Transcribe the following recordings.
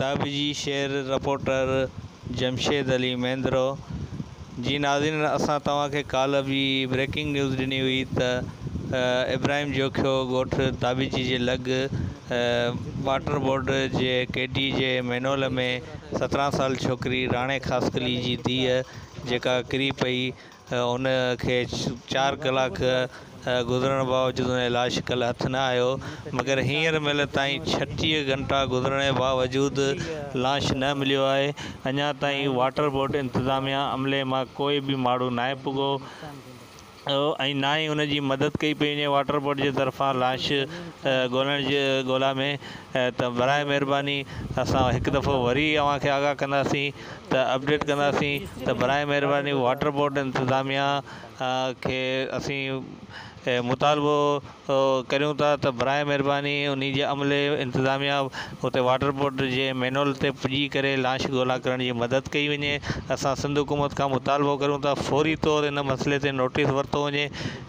دابي جي شعر رپورٽر جمشيد علي مينڌرو جي ناظرين اسان توهان کي ڪالهه به بريڪنگ نيوز ڏني هئي ته ابراهيم جوکيو ڳوٺ دابيجي جي لڳ واٽر بورڊ جي ڪيڊي جي مينهول ۾ سترهن سال ڇوڪري راڻي خاصخيلي جي ڌيء جيڪا ڪري پئي ان کي چار ڪلاڪ گذرڻ باوجود ان جي لاش ڪل هٿ نه آيو مگر هينئر مهل تائين ڇٽيهه گهنٽا گذرڻ جي باوجود لاش نه مليو آهي اڃا تائين واٽر بورڊ انتظاميا عملي مان ڪوئي به ماڻهو ناهي پڳو ۽ نه ئي ان جي مدد ڪئي پئي وڃي واٽر بورڊ جي طرفان لاش ڳولڻ جي ڳولا ۾ ته برائي مهرباني اسان هڪ دفعو وري اوهان کي آگاهه ڪنداسين ته اپڊيٽ ڪنداسين ته براهه مهرباني واٽر بورڊ انتظاميا کي اسين مطالبو ڪريون ٿا ته براهه مهرباني انهي جي عملي انتظاميا اتي واٽر بورڊ جي مينهول تي پڄي ڪري لاش ڳولا ڪرڻ جي مدد ڪئي وڃي اسان سنڌ حڪومت کان مطالبو ڪريون ٿا فوري طور ان مسئلي تي نوٽيس ورتو وڃي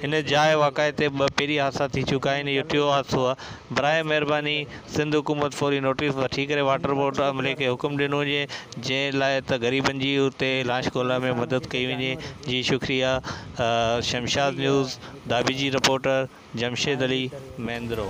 ان جاء واقعي تي ٻه پهرين حادثا ٿي چڪا آهن اهو ٽيون حادثو آهي براهه مهرباني سنڌ حڪومت فوري نوٽيس وٺي ڪري واٽر بورڊ عملي کي حڪم ڏنو هجي جنهن لاء ته غريبن جي اتي لاش ڳولا ۾ مدد ڪئي وڃي جي شڪريا شمشاد نيوز دابي جي رپورٽر جمشيد علي مينڌرو.